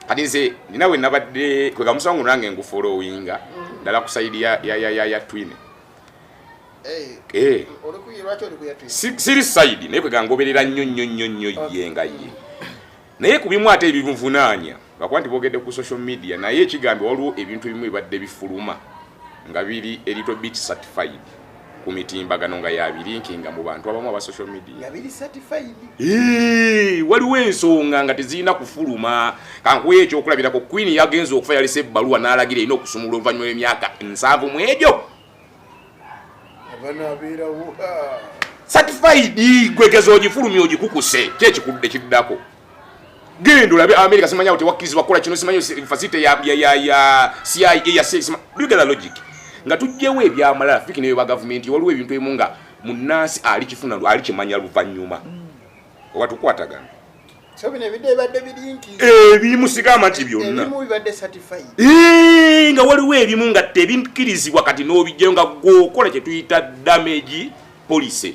kati nze ninawe nabadde kwega musango nange ngufuula owinga mm. ddala ku saidi ya, ya, ya, ya, ya twine eh, eh. siri saidi naye kwega ngoberera nnyo nnyo nnyo nnyo ye nga ye naye ku bimu ate ebivunaanya bakuba nti bogedde ku social media naye ekigambo waliwo ebintu ebimu ebibadde bifuluma nga biri elito bit certified ku mitimbagano nga yabirinkinga mu bantu abamu aba social media waliwo ensonga nga tezirina kufuluma kankuwa ekyokulabirako queen yagenza okufa yalese ebbaluwa n'alagira erina okusumula oluvannyuma lw'emyaka nsanvu mu egyo certified gwegeza ogifulumya ogikukuse kyekikudde kiddako genda olabe america simanya kuti wakkirizibwa kukola kino simanyi fasite ya cia ya dugala logic nga tujjewo ebyamalala fiki neyo bagavumenti waliwo ebintu ebimu nga munansi ali kifuna ali kimanya luvanyuma mm. oba tukwatagana ebimu sigamba nti byonna nga waliwo ebimu nga tebikkirizibwa kati n'obijjayo nga gwokola kyetuyita damage policy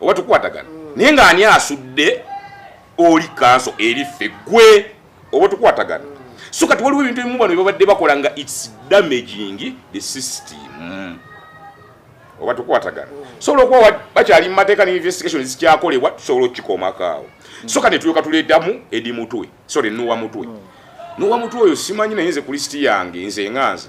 oba tukwatagana mm. naye nga ani asudde oli kanso eri ffe gwe oba tukwatagana mm. so kati waliwo ebintu ebimu bano byebabadde bakola nga its damaging the system mm. oba tukwatagana mm. so olwokuba bakyali mumateeka ne investigation zikyakolebwa tusobola okukikomakaawo mm. so kati tuyoka tuleetamu edi mutwe sorry nuwa mutwe mm. nuwa mutwe oyo simanyi naye nze kulisiti yange nze nganze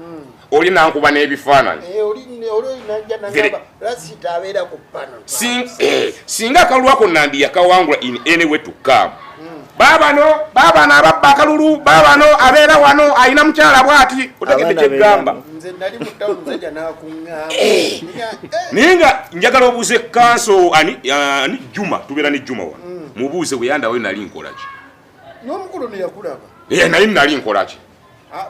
mm. oli nankuba n'ebifaananyi eh, eh, singa akalulu ako nandi yakawangula in any way to come mm. babano babano ababba akalulu babano abeera wano alina mukyala bwati otegedde kyegamba eh. naye nga njagala obuuze kanso ani juma tubeera ne juma wano mm. mubuuze weyandawayo nali nkolaki nomukulu neyakulaba naye nali nkolaki ah,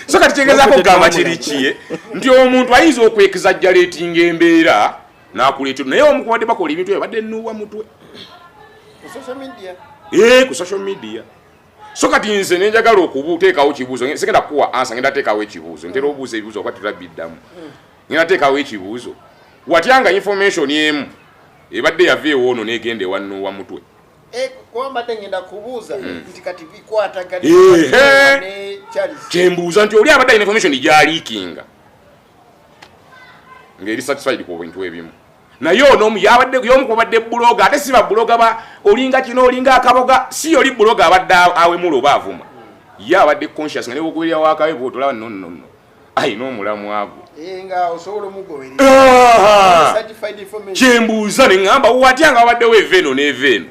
so kati kyengezako kugamba kirikiye eh? nti omuntu ayinza okwekizajjaletinga embeera nakuleetera naye omu kubadde bakola ebintu ebyo badde nuwa mutwe ku social media eh, so kati nze nenjagala okuteekawo kibuuzo sigenda kukuwa ansa ngenda teekawo ekibuuzo ntera obuuza ebibuuzo oba tera biddamu hmm. ngenda teekawo ekibuuzo watya nga information emu ebadde yava ewoono negenda ewannuwa mutwe Eh, wambadde ngenda kubuuza hmm. nti kati bikwatagane kyembuuza nti oli abadde alina information gyaliikinga ngeri satisfied ku bintu ebimu naye ono omu yabadde yomu kubadde buloga ate siba buloga ba olinga kino olinga akaboga si oli buloga abadde awemula oba avuma ye abadde conscious nga newogoberera wakawe bwotolaba nonnono alina omulamwa gwo eh, kyembuuza neŋamba watya nga wabaddewo eva eno neeva eno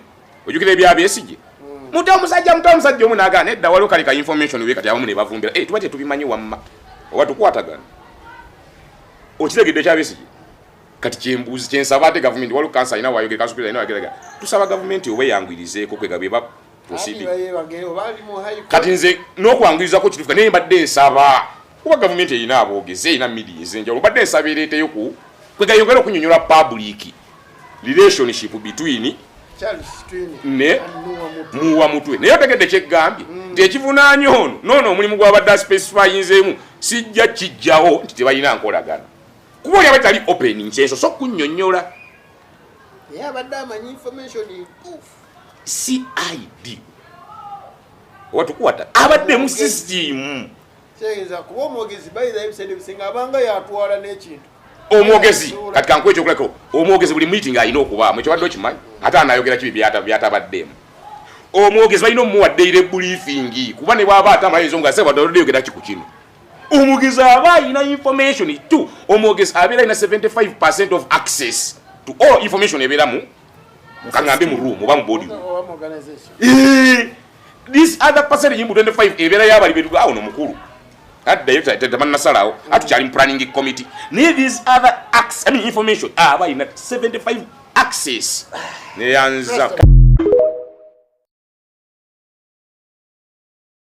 ojukira ebyabesigye hmm. muta omusajja muta omusajja omu naga nedda waliwo kali ka information we kati abamu nebavumbira eh, tuba tetubimanyi wamma oba tukwatagana okitegedde ekyabesigye kati kyembuuzi kyensaba ate gavumenti waliwo kansa alina wayogera kasupira alina wayogeraga tusaba gavumenti oba eyangwirizeeko kwega beba kati nze n'okwanguyirizako kituuka naye mbadde nsaba kuba gavumenti erina aboogezi erina midia ezenjawulo mbadde nsaba ereeteyo ku kwegayongera okunyonyola pabuliiki relationship between ne muwa mutwe naye otegedde kyeggambye mm. nti ekivunaanya ono noono omulimu gwabadde aspecifayinzeemu sijja kijjawo nti tebalina nkolagana kuba oli abatali open nkyenso so kunyonyola CID watukwata abadde mu system kyeyinza kuba omwogezi bayinza ebiseera ebisinga abanga yatwala n'ekintu omwogezi kati kankuwa ekyokulako omwogezi buli meeting alina okubaamu ekyobadde okimanyi ate anayogera kibi byatabaddeemu omwogezi balina omuwa daily briefing kuba ne bwaba ate amalayo ensonga sebadde yogera kiku kino omwogezi aba alina information tu omwogezi abeera alina 75 percent of access to all information ebeeramu kang'ambe mu room oba mu body eh, this other person yimbu 25 ebeera y'abali betuga awo nomukulu addayo tamannasalawo atukyali mu planning committee naye these other acts, I mean information aba ah, alina 75 access neyanza